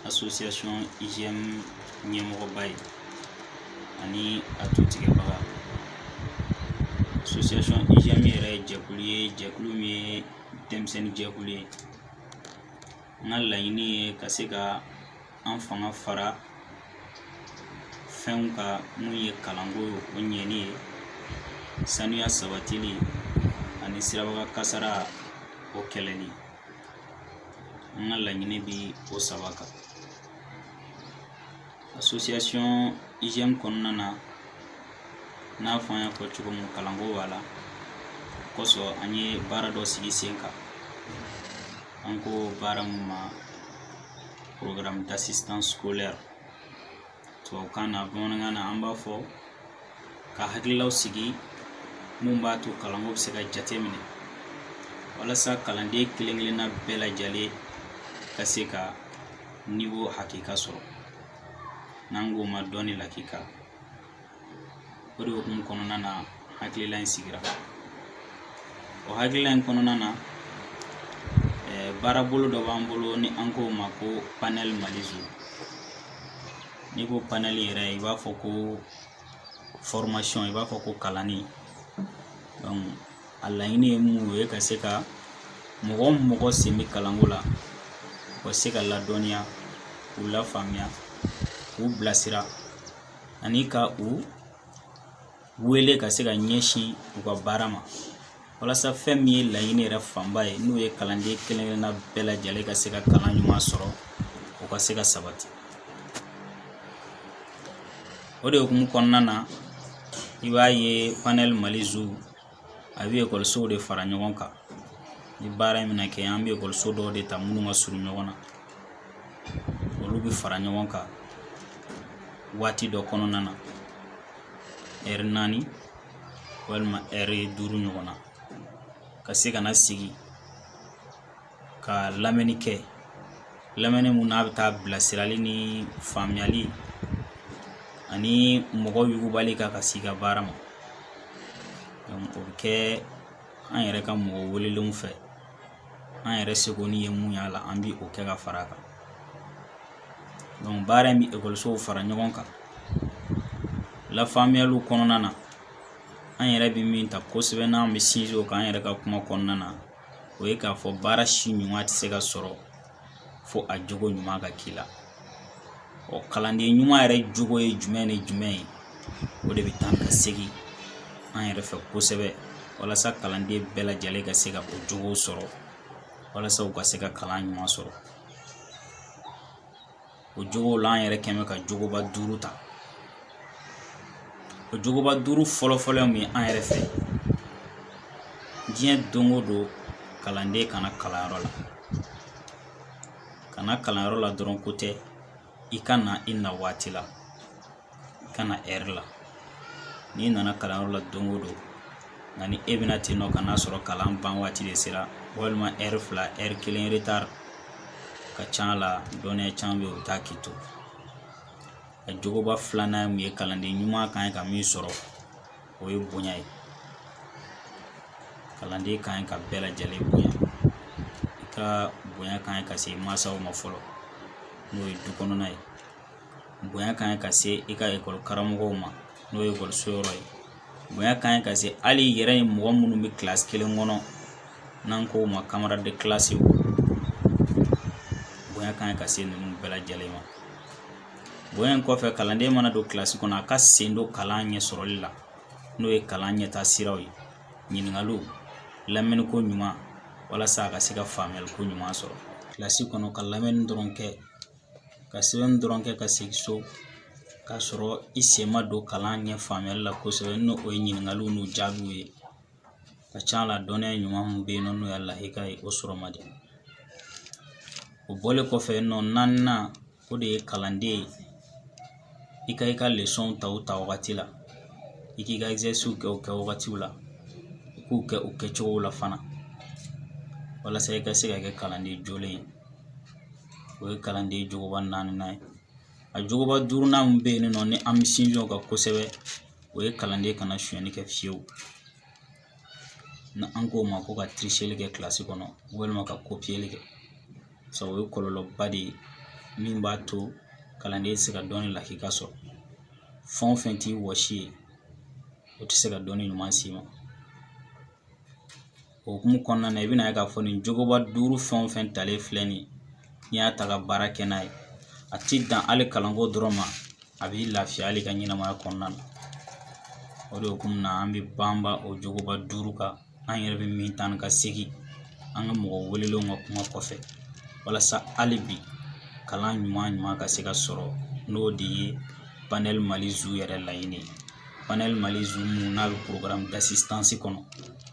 association IGM ɲɛmɔgɔba ye ani a tutigɛbaga association IGM yɛrɛ jɛkulu ye jɛkulu min ye denmisɛnnin jɛkulu ye n ka laɲini ye ka se ka an fanga fara fɛnw kan mun ye kalanko o ɲɛni ye sanuya sabatili ani sirabakan kasara o kɛlɛli an ka laɲini bi o saba kan association IGM kɔnɔna na n'a fɔ an y'a fɔ cogo min kalanko b'a la kosɔn an ye baara dɔ sigi sen kan an ko baara mun ma programme d'assistance scolaire tubabukan na bamanankan na an b'a fɔ ka hakililaw sigi mun b'a to kalanko bɛ se ka jate minɛ walasa kalanden kelen kelenna bɛɛ lajɛlen ka se ka niveau hakika sɔrɔ n'an k'o ma dɔnni lakika o de hukumu kɔnɔna na hakilila in sigira o hakilila in kɔnɔna na eh, baarabolo dɔ b'an bolo ni an k'o ma ko panɛli mali zu n'i ko panɛli yɛrɛ i b'a fɔ ko fɔrimasiyɔn i b'a fɔ ko kalanni a laɲini ye mun ye ka se ka mɔgɔ o mɔgɔ sen bɛ kalanko la u ka se ka ladɔnniya k'u lafaamuya k'u bilasira ani ka u wele ka se ka ɲɛsin u ka baara ma walasa fɛn min ye laɲini yɛrɛ fanba ye n'o ye kalanden kelen-kelenna bɛɛ lajɛlen ka se ka kalan ɲuman sɔrɔ o ka se ka sabati o de hukumu kɔnɔna na i b'a ye panɛli mali zu a bɛ ekɔlisow de fara ɲɔgɔn kan ni baara in bɛna kɛ an bɛ ekɔliso dɔw de ta minnu ka surun ɲɔgɔn na olu bɛ fara ɲɔgɔn kan waati dɔ kɔnɔna na ɛri naani walima ɛri duuru ɲɔgɔn na ka se ka na sigi ka lamɛnni kɛ lamɛnni mun n'a bɛ taa bilasirali ni faamuyali ani mɔgɔ yugubali kan ka s'i ka baara ma o bɛ kɛ an yɛrɛ ka mɔgɔ welelenw fɛ an yɛrɛ seko ni ye mun y'a la an bi o kɛ ka fara a kan baara in bɛ ekɔlisow fara ɲɔgɔn kan lafaamuyaliw kɔnɔna na an yɛrɛ bɛ min ta kosɛbɛ n'an bɛ sinsin o kan an yɛrɛ ka kuma kɔnɔna na o ye k'a fɔ baara si ɲuman tɛ se ka sɔrɔ fo a jogo ɲuman ka k'i la ɔ kalanden ɲuman yɛrɛ jogo ye jumɛn ni jumɛn ye o de bɛ taa ka segin an yɛrɛ fɛ kosɛbɛ walasa kalanden bɛɛ lajɛlen ka se ka o jogo sɔrɔ walasa u ka se ka kalan ɲuman sɔrɔ o jogow la an yɛrɛ kɛn bɛ ka jogoba duuru ta o jogoba duuru fɔlɔfɔlɔ ye mun ye an yɛrɛ fɛ diɲɛ don o don kalanden ka na kalanyɔrɔ la ka na kalanyɔrɔ la dɔrɔn ko tɛ i ka na i na waati la ka na ɛri la n'i nana kalanyɔrɔ la don o don nka ni e bɛ na ten nɔ ka n'a sɔrɔ kalan ban waati de sera walima ɛri fila ɛri kelen retari ka ca a la dɔnniya caman bɛ yen u bɛ taa k'i to a jogoba filanan ye mun ye kalanden ɲuman kan ye ka min sɔrɔ o ye bonya ye kalanden kan ye ka bɛɛ lajɛlen bonya i ka bonya kan ye ka se mansaw ma fɔlɔ n'o ye du kɔnɔna ye bonya kan ka se i ka ekɔli karamɔgɔw ma n'o ye ekɔliso yɔrɔ ye bonya kan ka se hali i yɛrɛ ye mɔgɔ minnu bɛ kilasi kelen kɔnɔ n'an k'o ma camarade de classe bonya kan ka se ninnu bɛɛ lajɛlen ma bonya in kɔfɛ kalanden mana don kilasi kɔnɔ a ka sen don kalan ɲɛ sɔrɔli la n'o ye kalan ɲɛtaa siraw ye ɲininkaliw lamɛnniko ɲuman walasa a ka se ka faamuyaliko ɲuman sɔrɔ kilasi kɔnɔ ka lamɛnni dɔrɔn kɛ ka sɛbɛnni dɔrɔn kɛ ka segin so k'a sɔrɔ i sen ma don kalan ɲɛ faamuyali la kosɛbɛ n'o ye ɲininkaliw n'u jaabiw ye ka ca a la dɔnniya ɲuman min bɛ yen nɔ n'o y'a lakika ye o sɔrɔ man di o bɔlen kɔfɛ nɔ naaninan o de ye kalanden ye i ka i ka lesɔnw ta o ta wagati la i k'i ka exercice kɛ o kɛ wagatiw la i k'u kɛ u kɛcogow la fana walasa i ka se ka kɛ kalanden jolen ye o ye kalanden jogoba naaninan ye a jogoba duurunan min bɛ yen nɔ ni an bɛ sinsin o kan kosɛbɛ o ye kalanden kana sonyɛli kɛ fiyewu ni an k'o ma ko ka tiriseli kɛ kilasi kɔnɔ walima ka kopiyeli kɛ sabu o ye kɔlɔlɔba de ye min b'a to kalanden tɛ se ka dɔnni lakika sɔrɔ fɛn o fɛn t'i wɔsi ye o tɛ se ka dɔnni ɲuman s'i ma O hukumu kɔnɔna na i bɛna ye k'a fɔ nin jogoba duuru fɛn o fɛn talen filɛ nin ye n'i y'a ta ka baara kɛ n'a ye a ti dan hali kalanko dɔrɔn ma a b'i lafiya hali i ka ɲɛnamaya kɔnɔna na o de hukumu na an bɛ banba o jogoba duuru kan an yɛrɛ bɛ min taa ni ka segin an ka mɔgɔ welelenw ka kuma kɔfɛ walasa hali bi kalan ɲuman ɲuman ka se ka sɔrɔ n'o de ye panɛli mali zu yɛrɛ laɲini ye panɛli mali zu min n'a bɛ programme d'assistance kɔnɔ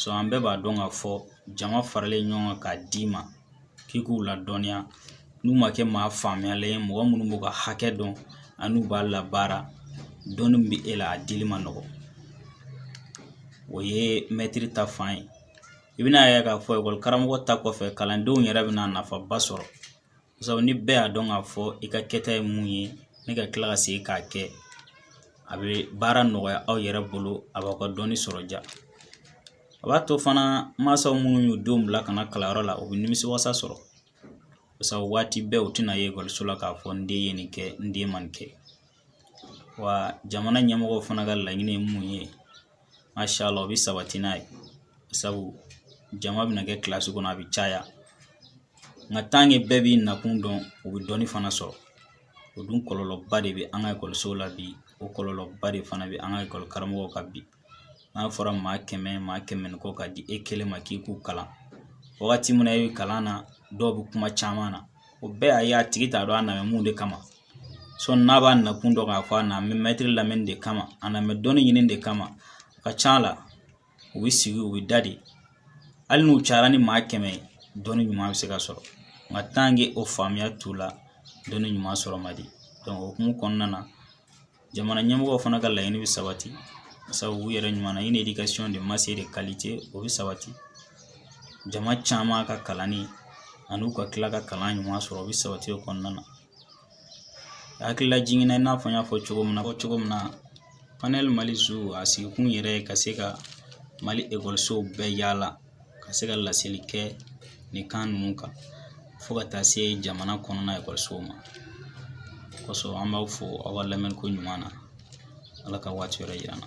so an bɛɛ b'a dɔn k'a fɔ jama faralen ɲɔgɔn kan k'a d'i ma k'i k'u ladɔnniya n'u ma kɛ maa faamuyalen ye mɔgɔ minnu b'u ka hakɛ dɔn an'u b'a labaara dɔnni min bɛ e la a dili man nɔgɔn o ye mɛtiri ta fan ye i bɛn'a ye k'a fɔ ekɔli karamɔgɔ ta kɔfɛ kalandenw yɛrɛ bɛna nafaba sɔrɔ sabu ni bɛɛ y'a dɔn k'a fɔ i ka kɛta ye mun ye ne ka tila ka segin k'a kɛ a bɛ baara nɔgɔya aw yɛrɛ bolo a b'aw ka dɔnni sɔrɔ diya a b'a to fana mansaw minnu y'u denw bila ka na kalanyɔrɔ la u bɛ nimisiwasa sɔrɔ sabu waati bɛɛ u tɛna ye ekɔliso la k'a fɔ n den ye nin kɛ n den ma nin kɛ wa jamana ɲɛmɔgɔw fana ka laɲini ye mun ye masha Allah o bɛ sabati n'a ye sabu jama bɛna kɛ kilasi kɔnɔ a bɛ caya nka tant que bɛɛ b'i nakun dɔn u bɛ dɔnni fana sɔrɔ o dun kɔlɔlɔba de bɛ an ka ekɔlisow la bi o kɔlɔlɔba de fana bɛ an ka ekɔli karamɔgɔw kan bi n'a fɔra maa kɛmɛ maa kɛmɛ ni kɔ ka di e kelen ma k'i k'u kalan wagati min na e bɛ kalan na dɔw bɛ kuma caman na o bɛɛ y'a ye a tigi t'a dɔn a nana mun de kama sɔni n'a b'a nakun dɔn k'a fɔ a nalen bɛ mɛtiri lamɛnni de kama a nalen bɛ dɔnni ɲini de kama a ka ca la u bɛ sigi u bɛ da de hali n'u cayara ni maa kɛmɛ ye dɔnni ɲuman bɛ se ka sɔrɔ nka tant que o faamuya t'u la dɔnni ɲuman sɔrɔ man di o hukumu kɔnɔna na jamana ɲɛmɔgɔw fana ka laɲini bɛ sabati sabu u yɛrɛ ɲuman na une éducation de masse et de qualité o bɛ sabati jama caman ka kalanni ani u ka tila ka kalan ɲuman sɔrɔ o bɛ sabati o kɔnɔna na hakililajigin na i n'a fɔ n y'a fɔ cogo min na panɛli mali zu a sigikun yɛrɛ ka se ka mali ekɔlisow bɛɛ yaala ka se ka laseli kɛ nin kan ninnu kan fo ka taa se jamana kɔnɔna ekɔlisow ma kosɔn an b'aw fo aw ka lamɛnni ko ɲuman na ala ka waati wɛrɛ yira an na